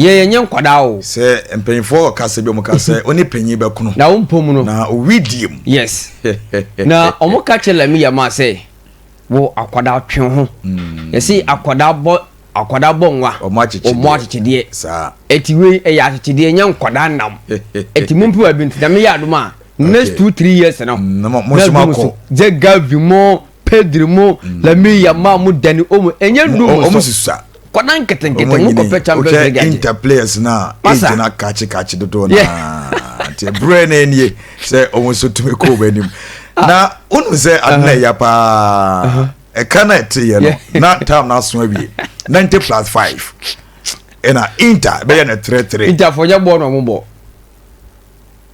Yɛn yɛnyɛ nkwadaa o. Sɛ mpanyinfoɔ ɔkasa bi ɔmo ka sɛ ɔne panyin bɛkono. Na ɔmpɔ mu no. Na owi diem. Yes. Na ɔmo ka kyerɛ Lamia maa sɛ wo akwadaa twe wo ho. Yɛsi akwadaa bɔ akwadaa bɔ nwa. Ɔmo akyekyedeɛ. Ɔmo akyekyedeɛ. Saa. Ɛti wei ɛyɛ akyekyedeɛ ɛnyɛ nkwadaa nam. Ɛti mo mpo ɛbi nti nyame yɛ adum a. Next two three years no. Na mo nso mo akɔ. Jɛ gavi mo. Pedri mu mm. Lamine Yamal mu Dani Olmo ɛnyɛ du mu so ɔmo sisa kɔda nketenkete mu kɔpɛ Champions League agye inter players na age na kakye kakye dodo na nti ɛbrɛ na ɛnie sɛ ɔmo nso tumi kɔ ɔmo anim ah. na wonim sɛ ade na ɛya paa uh-huh. ɛka na ɛte yɛ no na tam na aso awie ninety plus five ɛna inter bɛyɛ na three three. inter fɔ nyɛ bɔɔl na ɔmo bɔ.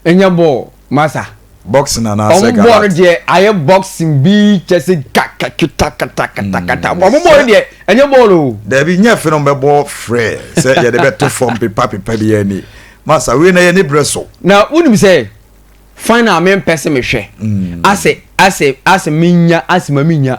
Ɛnyɛ bɔɔl masa. Boxing anaa sɛ gallat. Ɔmo bɔɔl no deɛ ayɛ boxing bi kyɛ se ka ka kita kata kata kata ɔmo bɔɔl no deɛ ɛnyɛ bɔɔl oo. Dabi nyɛ fɛ na ɔmo bɛ bɔ frɛ sɛ yɛde bɛ to fam pepa pepa bi yɛ ni masa wei na yɛ ni brɛ so. Na wunim sɛ final me mpɛ se me hwɛ ase ase ase me nya ase ma me nya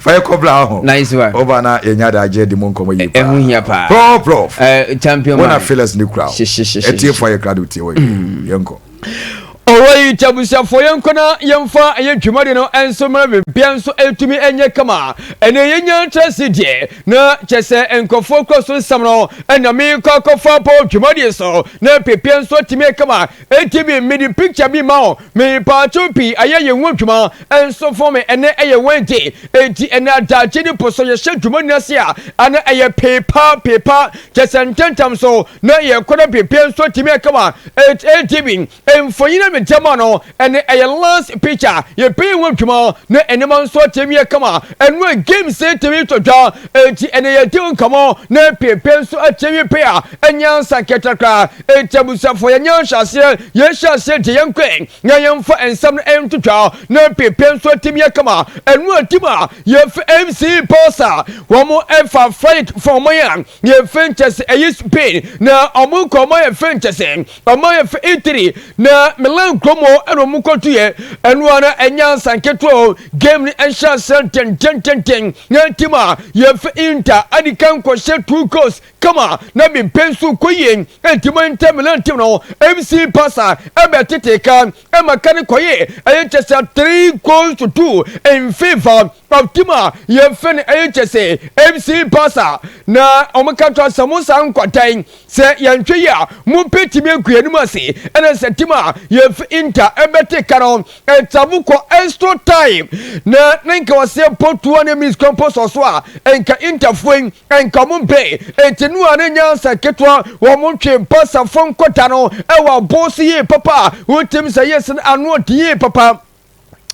fa yɛ kɔbla ho nice one ɔba na yɛ nya da agye di mu nkɔmɔ yi paa ɛho hia paa pro prof uh, champion man wɔna feelers ne kura o ɛtie fo ayɛ kura de tie wɔ yɛ mm. yɛn kɔ. ɔwɔyi tabusuafoɔ yɛnkɔ na yɛmfa ɛyɛ dwumadi no nso mmerɛ bebia nso ɛtumi ɛnyɛ kama ɛnɛ yɛnya ntra se deɛ na kyɛ sɛ nkurɔfoɔ kɔ so nsɛm no ɛna mekɔ akɔfa bɔ dwumadie so na pepia nso atumi kama ɛti bi mede picture bi ma wo Me paatwo pii ayɛ yɛn ho adwuma nso fom me ɛnɛ ɛyɛ Wednesday enti ɛnɛ adagye ne po so yɛhyɛ dwuma nyina ase a ɛnɛ ɛyɛ pee pa pee pa kyɛ sɛ ntɛntɛm so na yɛn kɔda bebie nso atumi akama it adb mfonyin a mede ama no ɛnɛ ɛyɛ last picture yɛpɛ yɛn ho adwuma na ɛnɛma nso atumi akama ɛno a games atumi to dwa enti ɛnɛ yɛde nkɔmɔ na pee pee nso atumi pɛ a ɛnyɛ ansa nkɛtɛkra Enti abusuafo, yɛnyɛ nhyɛaseɛ, yɛnhyɛ aseɛ gye yɛn nkwa na yɛmfa nsɛm no ntotwa na mprempren nso atim yɛ kama. Ɛno atim a, yɛfi MC Pulse a wɔfa Frank fa ɔman a yɛfi nkyɛ sɛ ɛyɛ Spain na wɔn kɔ ɔman a yɛfi nkyɛ sɛ ɔman a yɛfi Italy na Milan kurom hɔ ɛna wɔn kɔtuiɛ. Ɛno a na ɛnyɛ ansa nketewa o, game no nhyɛaseɛ ntɛntɛntɛntɛn na atim a yɛfi Inter adi kan kɔhyɛ two goals kama na me mpɛn so kɔ yie nti mo ntɛm me nantem no MC Pasa ɛbɛ tete ka ɛma ka ne kɔye ɛyɛ kyɛ sɛ three goals to two in favor of team a yɛfɛ no ɛyɛ kyɛ sɛ MC Pasa na ɔmo ka kyerɛ sɛ mo saa nkwatan sɛ yɛnhwɛ yi a mo mpɛ timi agu anim ase ɛna sɛ team a yɛfɛ Inter ɛbɛ te ka no Nta mu kɔ nsto tae na ne nka ɔseɛ mpo tuo ne miss kɔ mpo sɔ so a nka nta fue nka ɔmo mpe nti no a ne nyansa ketewa ɔmo ntwe mpa sa fo nkɔ da no ɛwɔ aboo so yie papa a wotim sɛ yɛ sen ano ɔdi yie papa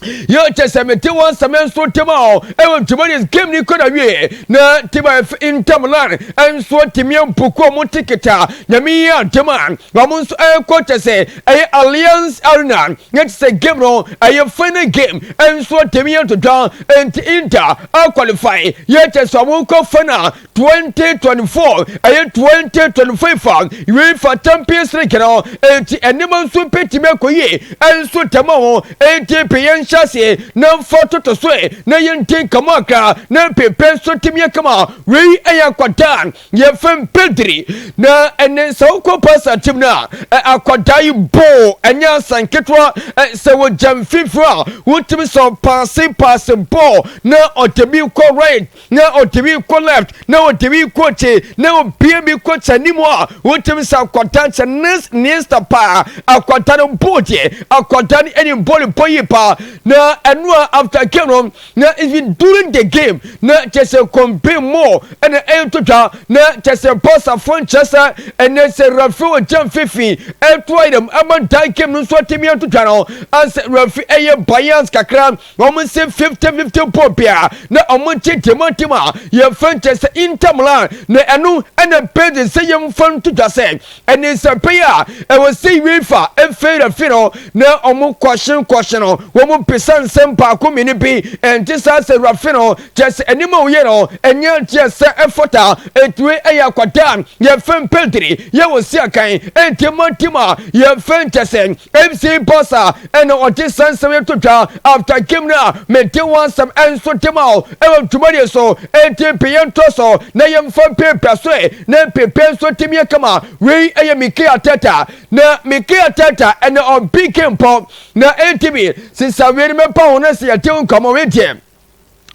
Yo kyɛ sɛ mete wɔn sɛ me nso tem a ɛwɔ Jumanis game ni kɔ na wie na tima ɛf ntam lan nso timi mpuku ɔmo ticket a nyame yi adema ɔmo nso ɛkɔ kyɛ sɛ ɛyɛ Allianz Arena na ɛte sɛ game no ɛyɛ final game nso atɛmi yɛ ntotwa nti Inter aqualify yɛ kyɛ sɛ wɔn kɔ final 2024 ɛyɛ 2025 UEFA Champions League no nti nneɛma nso bɛtumi akɔ yie nso tɛma ho nti pe yɛn hyɛ ase na mfa toto so na yɛn ti nkama akra na pepe nso tɛmi akama wei ɛyɛ akwadaa Yɛfem Pedri na ɛnɛ sɛ wokɔ pasa tim no a akwadaa yi bɔɔ ɛnyɛ asa nketewa sɛ wogya mfimfini a wotumi sɔ paase paase bɔɔ na ɔde bi kɔ right na ɔde bi kɔ left na ɔde bi kɔ akyi na obie bi kɔ kyɛ anim a wotumi sɛ akwadaa kyɛ nes niesta paa akwadaa no bɔɔ deɛ akwadaa no ɛni bɔɔl bɔ yi paa na ɛno a after game no Na it's been during the game na kyerɛ sɛ kɔn bɛn mu ɛna ɛreto dwa na kyerɛ sɛ Barsafo nkyerɛ sɛ ɛnɛ sɛ referee ogya mfimfini ɛto ayɛ dɛm ɛma dan game no nso atumi ato dwa no ansɛ referee ɛyɛ bias kakra wɔn nsɛ 50-50 bɔɔl biara na wɔn nkyɛ deɛ ma team a yɛfrɛ nkyerɛ sɛ Inter Milan na ɛno ɛna bɛdi sɛ yɛmfa nto dwa sɛ ne nsɛmpɛn a ɛwɔ sɛ UEFA mfeerɛfe no na wɔn kɔhyen kɔhyen no wɔn bisa nsɛm baako mmienu bi ɛnte saa sɛ rafe no kyɛ sɛ anim a wɔyɛ no ɛnyɛ nteɛ sɛ ɛfata ɛtumi ɛyɛ akwadaa yɛfɛ mpɛntiri yɛ wɔ si akan ɛnti mɔnti ma yɛfɛ nkyɛ sɛ mc boss a ɛna ɔde saa nsɛm yi to dwa after game no a mede ho asɛm nso de ma o ɛwɔ dwumadie so enti mpe yɛntɔ so na yɛmfa mpepa so ɛ na mpepa nso tumi yɛ kama wei ɛyɛ Mikel Arteta na Mikel Arteta ɛna ɔbi game pɔ na enti bi sisa wei no mɛpa ho no sɛ yɛde ho nkɔmmɔ wei deɛ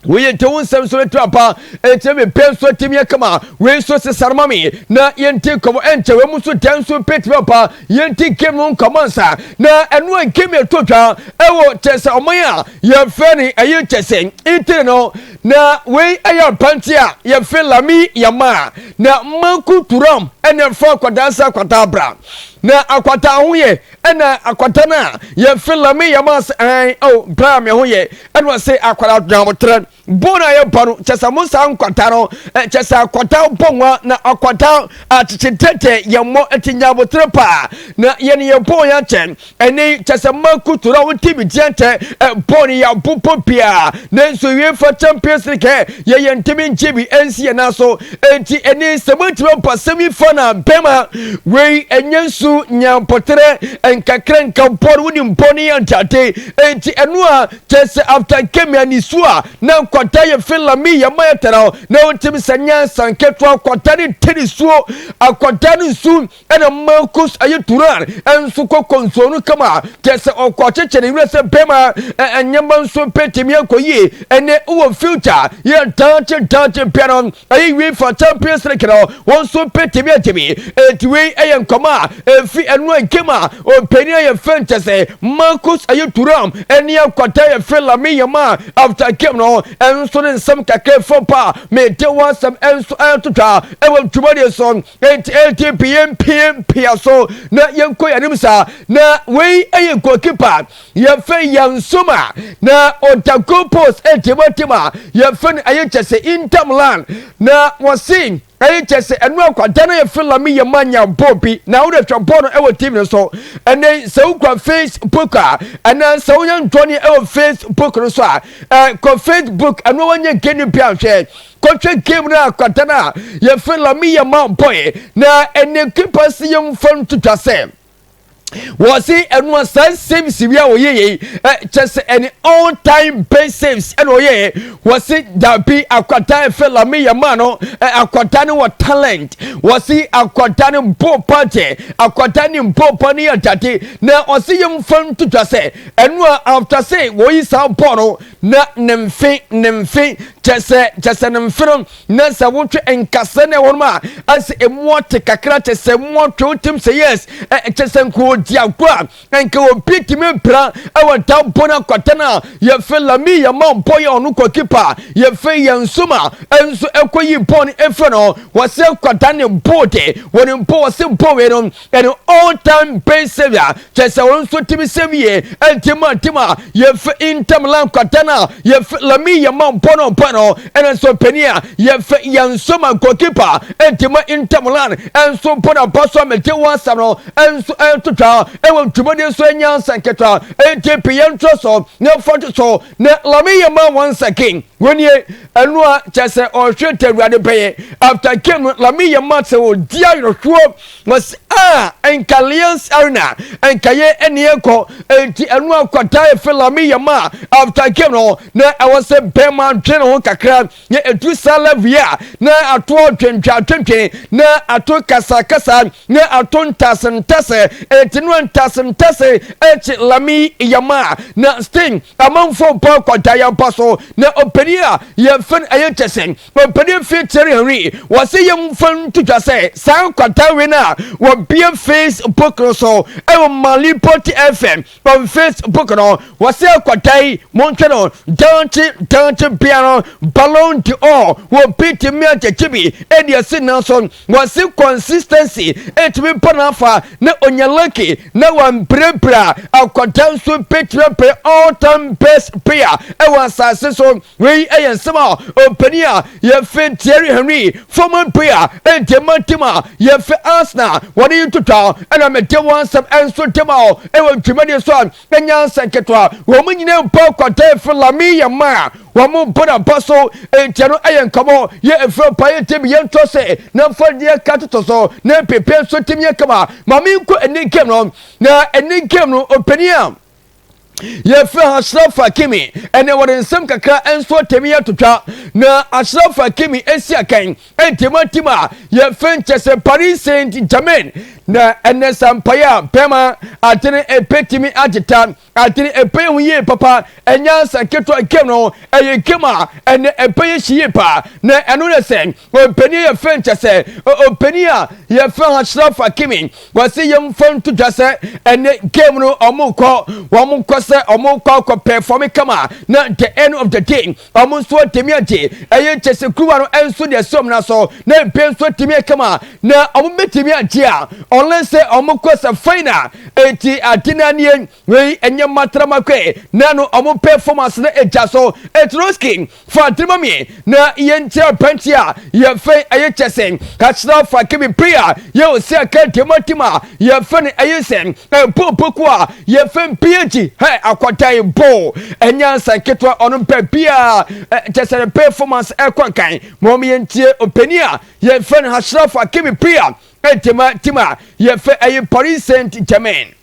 woyɛ nti wo nsɛm nso bɛtumi aba ɛnti mepɛ nso atumi akama wei nso sesare ma me na yɛnti nkɔmmɔ ɛnkyɛ wei mu nso dɛn nso bɛtumi aba yɛnti game no nkɔmmɔ nsa na ɛno a game ɛtɔ dwa ɛwɔ kyɛ sɛ ɔman a yɛfrɛ ne ɛyɛ kyɛ sɛ ntire no na wei ɛyɛ apanti a yɛfrɛ lami yɛma na manko turam ɛne ɛfa akwadaa nsa akwadaa bra na akwadaa ho yɛ Ɛna akwata no a yɛ fi la mi yɛ maa se ɛn o bra me ho yɛ ɛna ɔse akwara dwan mo trɛ bon a yɛ bɔ no kyɛ sɛ mo saa nkwata no kyɛ sɛ akwata bɔ nwa na akwata akyekye tɛtɛ yɛ mmɔ ɛti nya mo trɛ paa na yɛ ne yɛ bon yɛ kyɛ ɛne kyɛ sɛ ma kutu na wo ti bi tiɛ nkyɛ bon yɛ abo pɔ pia ne nso UEFA Champions League yɛ yɛ ntimi ngye bi ɛnsi yɛ na so Enti ɛne sɛ montumi mpo asɛm yi fa na bɛma wei ɛnyɛ nsu nya mpɔterɛ nkakra nka bɔne wonim bɔne yɛ ntade enti ɛno a kyɛ sɛ after nkemi ani su a na nkwata yɛ fe lami yɛ ma yɛ tara na wontumi sɛ nyansa nketewa akwata ne ntini suo akwata ne nsu Ɛna Marcus ayi Turan nso kɔ kɔnsuo no kama, kyerɛ sɛ ɔkɔ kyekyɛ ne werɛ sɛ bɛrima nneɛma nso bɛtumi akɔ yie ɛnɛ wɔ future yɛ daakye daakye bɛ no ɛyɛ wei fa Champions League no wɔn nso bɛtumi agye bi ɛti wei ɛyɛ nkɔmɔ a ɛfi ɛno a game a ɔpanin a yɛfɛ nkyɛ sɛ Marcus ayi Turan ɛne akɔta yɛfɛ Lamine Yamal after game no ɛnso ne nsɛm kakra fam pa a mede wɔasɛm ɛnso ɛtotwa ɛwɔ dwumadie so Enti enti pi yɛn pie mpia so na yɛn kɔ yɛn sa na wei ɛyɛ goalkeeper yɛfɛ yɛn soma na ɔda goal post ɛdi mo ti ma yɛfɛ no ɛyɛ kyɛ sɛ Inter Milan na wɔsi ɛyɛ kyɛ sɛ ɛno akwadaa no yɛfɛ Lami yɛ ma nya bɔɔl bi na wɔde hwɛ bɔɔl no ɛwɔ TV no so ɛnɛ sɛ wokura Facebook a ɛnɛ sɛ woyɛ ntɔni ɛwɔ Facebook no so a ɛkɔ Facebook ɛno wɔnyɛ gani bi anhwɛ kɔhwɛ game no akwata no a yɛfrɛ lami yɛma bɔe na ɛne kipa si yɛmfa ntwitwa sɛ wɔsi ɛno a saa saves wi a wɔyɛ yɛ kyɛ sɛ ɛne all time best saves ɛna ɔyɛ wɔsi dabi akwata ɛfɛ lami yɛma no akwata no wɔ talent wɔsi akwata no bo pa kyɛ akwata ne bo pa ne yɛ dade na ɔsi yɛmfa ntwitwa sɛ ɛno a after sɛ wɔyi saa bɔɔl no na ne mfe ne mfe kyɛ sɛ kyɛ sɛ ne mfe no na sɛ wotwe nkasa ne wɔn a asɛ emu ɔte kakra kyɛ sɛ mu ɔtwe wotem sɛ yes kyɛ sɛ nka odi agorɔ a nka obi tumi mpira ɛwɔ da bɔ no akwata no a yɛfɛ lami yɛma bɔ yɛ ɔno kɔ kipa yɛfɛ yɛn nso ma ɛnso ɛkɔ yi bɔ no ɛfɛ no wɔsɛ kwada ne bɔ de wɔn bɔ wɔsɛ bɔ wei no An old time pain savior kyerɛ sɛ wɔn nso tumi sɛ wie ntim a ntim a yɛfɛ ntam la nkwata no a yɛfɛ lami yɛ ma mpɔ no mpɔ no ɛna nso panin a yɛfɛ yɛn nso ma goalkeeper ntim ntam la nso mpɔ no mpɔ so a mɛgye wɔn asɛm no nso ɛtotwa ɛwɔ ntwumadi nso ɛnya nsɛnketewa ɛnti pii yɛn ntorɔ so na ɛfa to so na lami yɛ ma wɔn nsɛkin wɔn nie ɛno a kyerɛ sɛ ɔhwɛ ntɛ awurade bɛyɛ after game no lami yɛ ma sɛ ɔdi ayerɛhoɔ Wɔse ah nka Lions Arena nka yɛ ɛne ɛkɔ nti ɛno akɔda efe Lami yɛ ma after game no na ɛwɔ sɛ bɛrima dwe ne ho kakra na ɛduru saa level yi a na ato ɔdwendwe adwendwen na ato kasakasa na ato ntase ntase ɛti no ntase ntase ɛkyi Lami yɛ ma na sting amanfoɔ bɔ akɔda yɛ ba so na ɔpani a yɛfɛn ɛyɛ kyɛsɛn Ɔpanyin fee Thierry Henry wɔ sɛ yɛmfa nto dwa sɛ saa nkwata wei no a wɔbea Facebook no so ɛwɔ Mali Port FM wɔ Facebook no wɔ sɛ akwata yi montwɛ no daakye daakye bea no Ballon d'Or wɔ bitimi agyagye bi ɛde asi nan so wɔ se consistency ɛtumi ba no afa na onya lucky na wambirabira akwata nso bɛtumi bɛyɛ all time best player ɛwɔ asase so Wei yɛ nsɛm a ɔpanin a yɛfrɛ no Thierry Henry, former player, ɛnti ɛma team a yɛfrɛ Arsenal wɔde yi ntotwa ɛna mede wɔn nsɛm ɛnso de ma wo ɛwɔ dwumadie so a ɛnya nsɛ nketewa wɔn nyinaa mpo akɔda ɛfrɛ Lamine Yamal wɔn bɔ na ba so ɛnti ɛno ɛyɛ nkɔmɔ yɛ ɛfrɛ pa yɛ team yɛ ntɔ se na mfa deɛ ka toto so na pepe nso team yɛ kama ma menkɔ ɛne game no na ɛne game no ɔpanin a yɛfrɛ ashraf hakimi ɛnɛ wɔde nsɛm kakra nso atɛmi atotwa na ashraf hakimi asi akan ntimatim a yɛfrɛ nkyɛ sɛ paris saint germain na ɛnɛ sampaeɛ a pɛma atene ɛpɛtumi agyeta atene ɛpɛ yɛ ho yie papa ɛnyɛ asa ketewa game no ɛyɛ game a ɛnɛ ɛpɛ yɛ hyi yie paa na ɛno ne sɛ ɔpani yɛfrɛ nkyɛ sɛ ɔpani a yɛfrɛ ashraf hakimi Kwasi yɛmfa nto dwa sɛ ɛnɛ game no wɔkɔ wɔn kɔ sɛ wɔkɔ akɔ pɛfɔme kama na the end of the day wɔn nso atumi agye ɛyɛ kyɛ sɛ kuruwa no nso deɛ sɛ wɔn na so na ebe nso atumi akama na wɔn bɛtumi agye a ɔlɛn sɛ wɔkɔ sɛ final eti ade no anie Wei ɛnyɛ matrama kwe na no ɔmo pɛ fom ase na egya so eturo skin fa diri ma me na yɛ ntia pɛnti a yɛ fɛ ɛyɛ kyɛ sɛ kakyira fa kɛ me pia yɛ ose akɛ deɛ ma tim a yɛ fɛ no ɛyɛ sɛ ɛpo poku a yɛ fɛ mpia gyi hɛ akɔdan bo ɛnyɛ ansa ketewa ɔno mpɛ pia kyɛ sɛ pɛ fom ase ɛkɔ nkan ma ɔmo yɛ ntie ɔpɛni a yɛ fɛ no kakyira fa kɛ me pia ɛdeɛ ma tim a yɛ fɛ ɛyɛ paris saint germain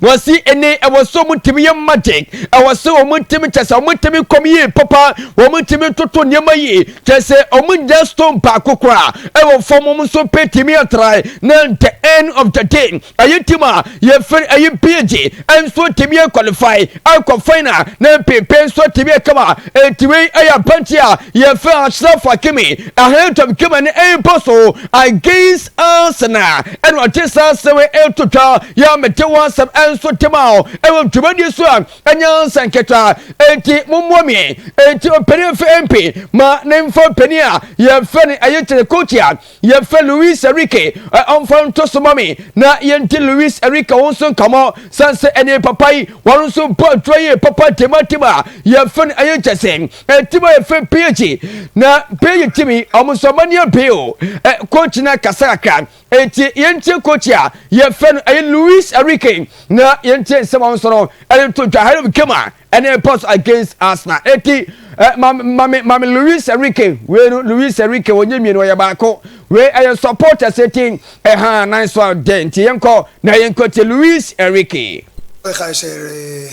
Wɔsi ɛnɛ ɛwɔ sɛ wɔn ntumi yɛ magic, ɛwɔ sɛ wɔn ntumi kyɛ sɛ wɔn ntumi kɔm yie papa, wɔn ntumi ntoto nneɛma yie, kyɛ sɛ wɔn nya stone baako koraa ɛwɔ fam wɔn nso pɛ tumi atrae na the end of the day ɛyɛ team a yɛfiri ɛyɛ pg nso tumi yɛ qualify ɛkɔ final na mpempe nso tumi yɛ kama ɛtumi ɛyɛ abɛnkye a yɛfɛ Ashraf Hakimi ahead of Germany ɛbɔ so against Arsenal ɛna ɔte saa asɛm yi ɛto twa yɛ a mete ho asɛm ɛnso te ma o ɛwɔ dwumadi so a ɛnyɛ ansa nketewa enti mommoa mi enti ɔpanin fɛ mp ma ne mfa ɔpanin a yɛfɛ ne ɛyɛ kyerɛ kooti a yɛfɛ Luis Enrique ɔmfa nto so ma me na yɛnti Luis Enrique ho nso nkamɔ san sɛ ɛne papa yi wɔn nso bɔ adwuma yie papa tema tema yɛfɛ no ɛyɛ kyɛ sɛ Ɛtim a ɛfɛ PG na PG tim yi ɔmo nso ɔmo ani abie o ɛ coach na kasa kakra eti yɛn tie coach a yɛfɛ no ɛyɛ Luis Enrique na yɛn tie nsɛm a ɔnso no ɛde to dwa hɛrɛ game a ɛne ɛpɔ so against Arsenal eti ɛ maame maame maame Luis Enrique wei no Luis Enrique wɔnyɛ mmienu ɔyɛ baako wei ɛyɛ supporters eti ɛha nan so a dɛ nti yɛn kɔ na yɛn kɔ tie Luis Enrique. Ɛka hyɛ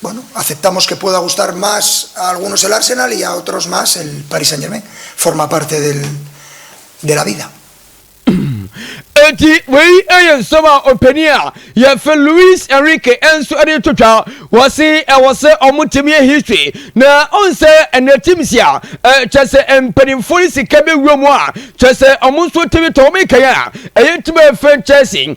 Bueno, aceptamos que pueda gustar más a algunos el Arsenal y a otros más el Paris Saint-Germain. Forma parte del, de la vida. Enti wei yɛ nsɛm a ɔpanin a yɛfɛ Luis Enrique nso de to twa wɔse ɛwɔ sɛ ɔmo tim yɛ history na ɔn sɛ ɛnɛ tim si a kyɛ sɛ mpanimfoɔ no sika bɛwura mu a kyɛ sɛ ɔmo nso tumi tɔ ɔmo kɛyɛ a ɛyɛ tim ɛfɛ Chelsea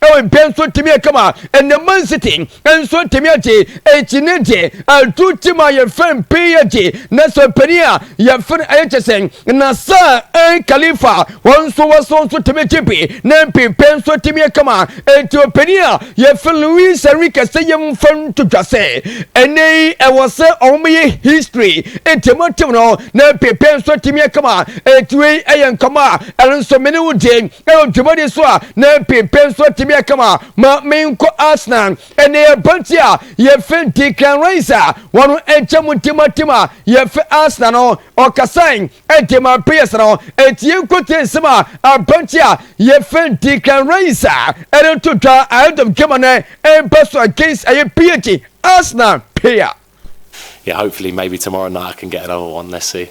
Ɛdɛn nso tumi aka ma ɛnɛ Man City nso tumi agye akyinne de atu tim a yɛfrɛ no pii agye na sɛ panin a yɛfrɛ no ayɛ kyɛ sɛ Nasser Khalifa wɔn nso wɔso nso tumi gye bi na mpepe nso tumi aka ma eti ɔpanin a yɛfrɛ Luis Enrique sɛ yɛmfa nto dwa sɛ ɛnɛ yi ɛwɔ sɛ ɔmyɛ history eti motive no na mpepe nso tumi aka ma eti wei ɛyɛ nkɔmɔ a ɛno nso mene wo deɛ Ɛwɔ dwumadi so a na mpepe nso tebea kama ma menkɔ Arsenal. Ɛnna yɛ ba nti a yɛfɛ Declan Rice a wɔn nkyɛn mu timatim a yɛfɛ Arsenal no ɔkasae ɛde ma players no. Ɛti yɛn nkotie nsɛm a abante a yɛfɛ Declan Rice a ɛde nto dwa ahead of game no ɛmpa so against ɛyɛ PH Arsenal player. Yeah, hopefully maybe tomorrow night I can get another one. Let's see.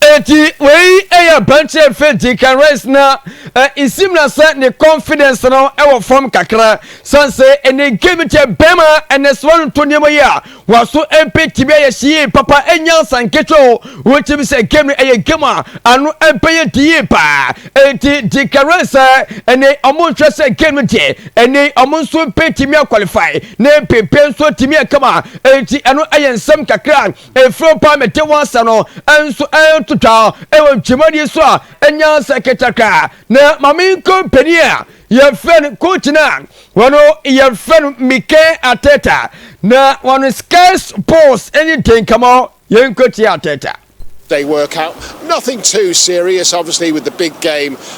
Eti wei yɛ abɛnkyɛ mfɛnti kan rice na nsim na sɛ ne confidence no wɔ fam kakra san sɛ ɛne game kyɛ bɛrima ɛnɛ sɛ wɔn to nneɛma yi a wɔaso mpe tibia yɛ hyie papa ɛnyɛ nsa nketewa o wɔkyim sɛ game no ɛyɛ game a ano ɛbɛyɛ di yie paa eti di kan rice sɛ ɛne ɔmo nhwɛ sɛ game no deɛ ɛne ɔmo nso mpe timi akwalify ne mpepe nso timi akama eti ɛno ɛyɛ nsɛm kakra Efio pa mete w'asa no nso ɛnto twa ɛwɔ ntwemani so a ɛnya sɛ ketakra na mame nko panin a yɛfrɛ no coach no a wɔn yɛfrɛ no Mikel Arteta na wɔn Sky's Pulse ne den kama yɛnkotie Arteta. They work out nothing too serious obviously with the big game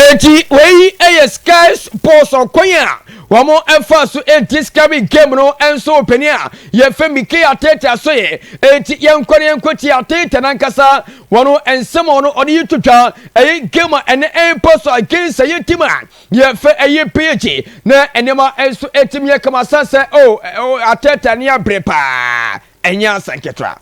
Enti wei yɛ Sky Sports ɔkwan a wɔfa so di sika bi game no nso panin a yɛfrɛ Mickey Arteta so yɛ enti yɛnkɔ na yɛnkɔtie Arteta nankasa wɔn nsɛm a ɔno ɔde to dwa ɛyɛ game a ɛnɛ ɛrekɔ so against ɛyɛ team a yɛfrɛ ɛyɛ PSG na nneɛma nso ɛtumi yɛ kama san sɛ oh Arteta ne abrɛ paa ɛnyɛ asɛnketewa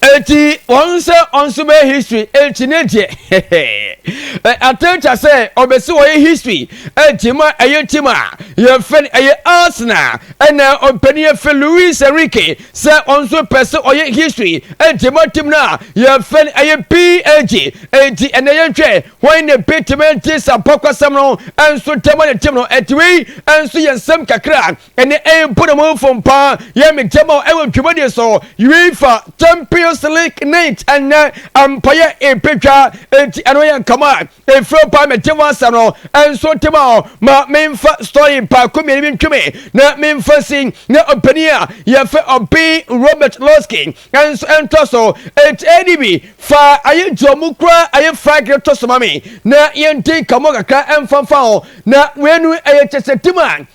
Eti wɔn sɛ ɔnso bɛyɛ history eti ne deɛ ɛ atɛkya sɛ ɔbɛsi wɔyɛ history eti ma ɛyɛ tim a yɛfɛ no ɛyɛ Arsenal ɛna ɔpɛni yɛfɛ Luis Enrique sɛ ɔnso pɛ sɛ ɔyɛ history eti ma tim no a yɛfɛ no ɛyɛ PAG eti ɛna yɛhwɛ wɔn na betumi ati sampakwasɛm no ɛnso tɛma ne tim no eti wei ɛnso yɛ nsɛm kakra ɛne ɛmpo na mo mfom paa yɛ me gyama ɛwɔ dwumadie so UEFA Champions League night ɛnɛ ampayɛ ɛpɛtwa enti ɛno yɛ nkama ɛfiri paa mɛgye mo asɛm no ɛnso tema hɔ ma memfa story paako mmienu bi ntweme na memfa si na ɔpanin a yɛfɛ ɔben Robert Losky ɛnso ɛntɔ so ɛti ɛdi bi fa ayɛ gye ɔmo kura ayɛ flag no to so ma me na yɛnti nkamo kakra ɛmfamfa ho na wenu ɛyɛ kyɛsɛ tim a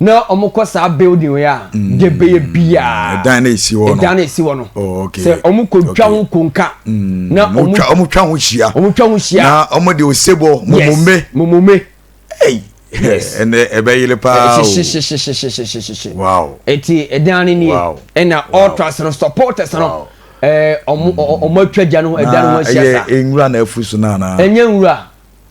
Na wɔn kɔ saa building wei a mm, de bɛyɛ biara ɛdan na esi hɔ no ɛdan na esi hɔ no oh, sɛ wɔn kɔ twa ho konka mm, na wɔn twa wɔn twa ho hyia wɔn twa ho hyia na wɔn de osebɔ mumumbe mumumbe ɛnɛ ɛbɛyere paa o hyehyehyehyehyehyehyehye wow eti ɛdan ne nie ɛna ultras no supporters no ɛɛ wɔn wɔn atwa gya no ɛdan no ho ahyia saa ɛyɛ nwura na afu so na ana ɛnyɛ nwura.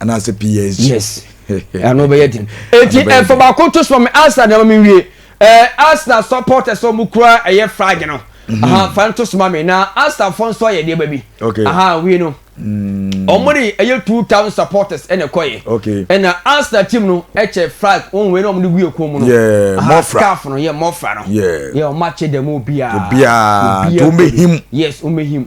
anaasɛ phd. yes ɛno bɛyɛ den eti ɛfɔ baako to soma me arsenal deɛ ma me nwie ɛɛ arsenal supporters sɛ ɔmo kura ɛyɛ flag no mm-hmm. aha fa no to soma me na arsenal fo nso ayɛ deɛ ba bi okay aha wie no mm. ɔmo de ɛyɛ two thousand supporters ɛna ɛkɔ yɛ okay ɛna arsenal team no ɛkyɛ flag wɔn wei na ɔmo de gu yɛ kɔn mu no yɛ mɔfra scarf no yɛ mɔfra no yɛ yɛ ɔmo akyɛ dɛm obiara obiara to ɔmo ehim yes ɔmo ehim.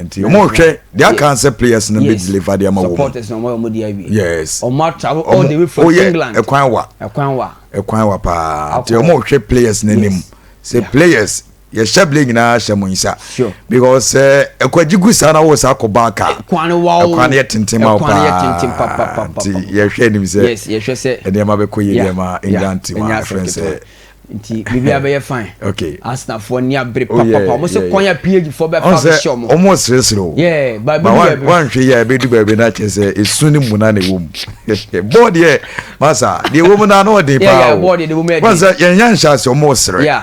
nti wɔn rehwɛ their yes. cancer players no yes. bɛ deliver de ama wɔn supporters na wɔn yɛ wɔn di awie yes wɔn atravel all the way from england ɛkwan wa ɛkwan wa ɛkwan wa paa nti wɔn rehwɛ players no anim sɛ players yɛhyɛ bile nyinaa hyɛ mo nsa because eh, ɛkwagye gu saa na wo saa kɔ baa kaa ɛkwan no yɛ tenten ma wo paa nti yɛhwɛ anim sɛ nneɛma bɛkɔ yɛ deɛ ma england team a ɛfrɛ sɛ nti biribiara bɛyɛ fine okay asenafoɔ ni abere oh, papapa wɔn sɛ kwan a phd foɔ bɛ fa bɛhyɛ wɔn wɔn ɔseresere o yeah baabi ni baabi wanhwɛ yi a ebe du baabi na kyerɛ sɛ esu ni mu na na ewo mu bɔɔd yɛ masa deɛ ewo mu na na ɔden paa o wɔn sɛ yɛn yɛn nhyɛ ase wɔn ɔsere yeah.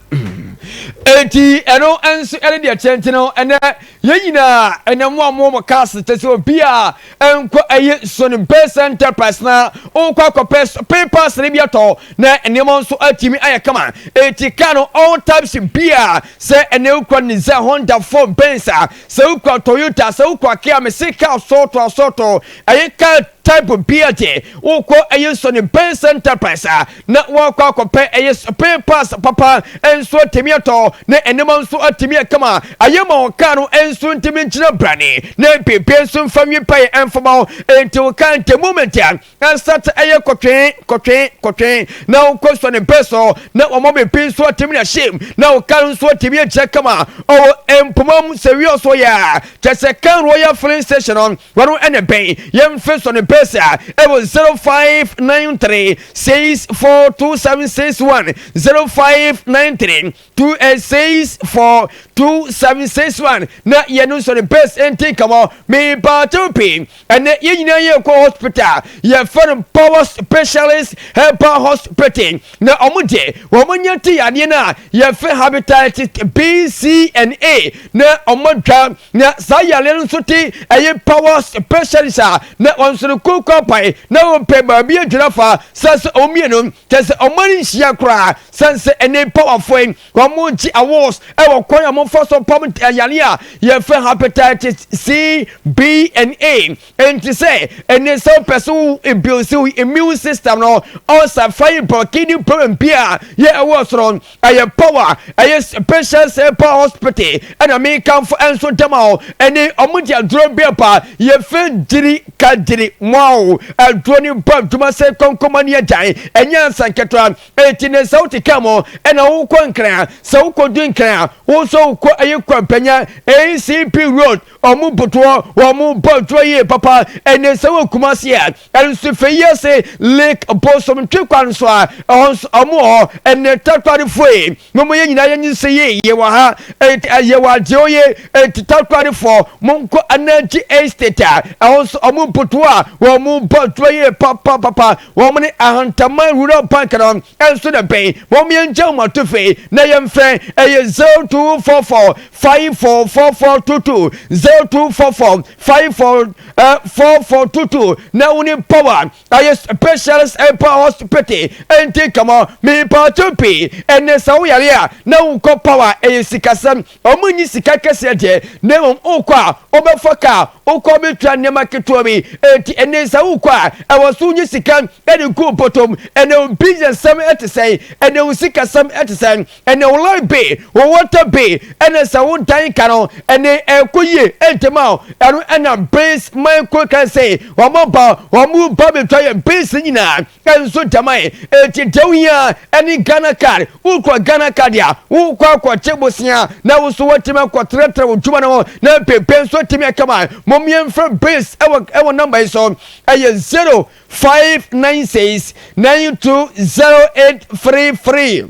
Enti ɛno nso ne deɛ ɛteɛ nti no ɛnɛ yɛn nyinaa ɛnɛ mo a mo wɔ mo cars kyɛ sɛ obi a ɛnkɔ ɛyɛ nsuo no base enterprise na ɔkɔ akɔpɛ papers no bi atɔ na nneɛma nso atumi ayɛ kama eti car no all types bi a sɛ ɛnɛ wokura Nissan Honda Ford Benz a sɛ wokura Toyota sɛ wokura Kia mese car sɔɔto asɔɔto ɛyɛ car type bi a gye wokɔ ɛyɛ nsuo no base enterprise a na wɔakɔ akɔpɛ ɛyɛ spare parts papa nso atumi atɔ, na nneɛma nso atumi ɛka ma ayɛ ma wɔn kaa no nso ntumi nkyerɛ brane, na beebi nso mfa nwi pae ɛmfa ma wɔn, enti wɔn kaa nti moment a ɛsate ɛyɛ kɔtwee kɔtwee kɔtwee na wɔn kɔ sɔ ne mpɛ so na wɔn beebi nso atumi na hyem na wɔn kaa no nso atumi akyerɛ kama ɔwɔ mpoma mu sɛ wia so yɛ a kyɛ sɛ kaa royal filling station on Wɔn na ɛbɛn yɛn mfeso no pɛsɛ a ɛwɔ 0593 64 2761, 0593 26 4 2761, na yɛn nso no pɛs nti nkama mebaatew pii. Ɛnɛ yɛn nyinaa yɛ kɔ hospital yɛfɛ no Power Specialist Herbal Hospital, na wɔn deɛ wɔn anya ti yadeɛ no a yɛfɛ hepatitis B, C and A, na wɔn adwa Na saa yareɛ no nso te ɛyɛ powers patients a na wɔn nso no koko apae na wɔpɛ baabi adwira fa sɛ sɛ wɔn mmienu kyɛ sɛ wɔn ani nhyia koraa sɛn sɛ ɛnɛ powerfo yi wɔn gye awards ɛwɔ kwan a wɔfa so pam yareɛ a yɛfrɛ hepatitis C B and A Ɛnti sɛ ɛne sɛ wopɛ so ebuilsi wo immune system no ɔsa fa yi bɔ kidney problem bi a yɛ ɛwɔ so no ɛyɛ power ɛyɛ special sɛ pa hospital ɛna me kanfo ɛnso dɛma o ɛne ɔmo di aduro bi ɛba yɛfɛ gyiri ka gyiri moa o aduro ne bɔ adwuma sɛ kɔnkɔma ne agyan ɛnyɛ ansa nketewa ɛti ne sɛ wote ka mo ɛna wokɔ nkran sɛ wokɔ du nkran a wosɔ wokɔ ɛyɛ kwampanya ACP road Ɔmo botoɔ, ɔmo bɔ dwoɔ yie papa. Ɛnɛ sɛ wɔ Kumasi a, ɛnso fɛ yi ase lik bosom twe kwan so a, ɛhɔ nso ɔmo wɔ hɔ. Ɛnɛ Takoradifoɔ yi, mo mo yɛ nyinaa yɛ nyinsɛ yi, yɛ wɔ ha, ɛɛ yɛ wɔ adeɛ oye, ɛnti Takoradifoɔ, mo nkɔ Anagye Estate a, ɛhɔ nso ɔmo botoɔ a, ɔmo bɔ dwoɔ yie papa papa. Ɔmo ne Ahantaman Rural Bank no ɛnso na ɛbɛn, mo mo yɛ ngya ɔmo ato fɛ yi na yɛ nfrɛ, ɛyɛ 0244 Five four four four two two zero two four four five four eh, four four two two na woni power ayɛ specialist ɛpa hospital ɛnti kama mepaakyɛ pii ɛnɛ sɛ wo yare a na wokɔ power ɛyɛ sikasɛm ɔmo nyi sika kɛseɛ deɛ na mmom wokɔ a wobɛfa kaa wokɔ bɛtua nneɛma ketewa bi ɛnti ɛnɛ sɛ wokɔ a ɛwɔ so wonyi sika ɛde gu bɔtɔm ɛnɛ wo business sɛm ɛte sɛn ɛnɛ wo sikasɛm ɛte sɛn ɛnɛ wo life be wo water be ɛnɛ sɛ wo dan ka no ɛnɛ ɛkɔ yie ɛntɛm a ɛno ɛna base micro kan sɛ wɔn aba wɔn ba bɛtwa yɛ base nyinaa ɛnso dɛma yɛ ɛti deɛ wohia ɛne Ghana card wokura Ghana card a wokɔ akɔkye bosea na wo so watumi akɔtrɛtrɛ wo dwuma no ho na bebe nso atumi akama mom yɛmfrɛ base ɛwɔ ɛwɔ number yi so ɛyɛ 0596 920833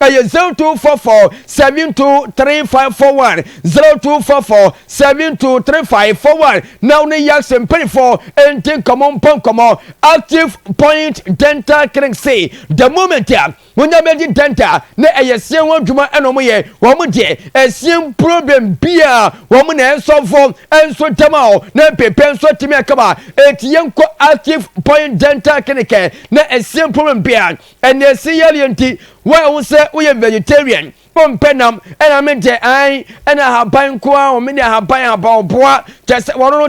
Ɛyɛ 0244 7235 41 0244 7235 41 na wo ne Yax mpanyinfoɔ nti nkɔmmɔ mpɔ nkɔmmɔ Active Point Dental Clinic se the moment a wonya bɛdi dental na ɛyɛ seɛ ho adwuma ɛna wɔn yɛ wɔn deɛ ɛseɛ problem bia wɔn na ɛsɔfo nso dɛm a na mpepɛ nso atumi akaba eti yɛnkɔ Active Point Dental Clinic na ɛseɛ problem bia Ɛnneɛ se yareɛ nti woayɛ wo sɛ woyɛ vegetarian, wompɛ nam, ɛna me deɛ ae ɛna ahaban nko ara o, me deɛ ahaban ahaban ɔboa, kyerɛ sɛ wɔno no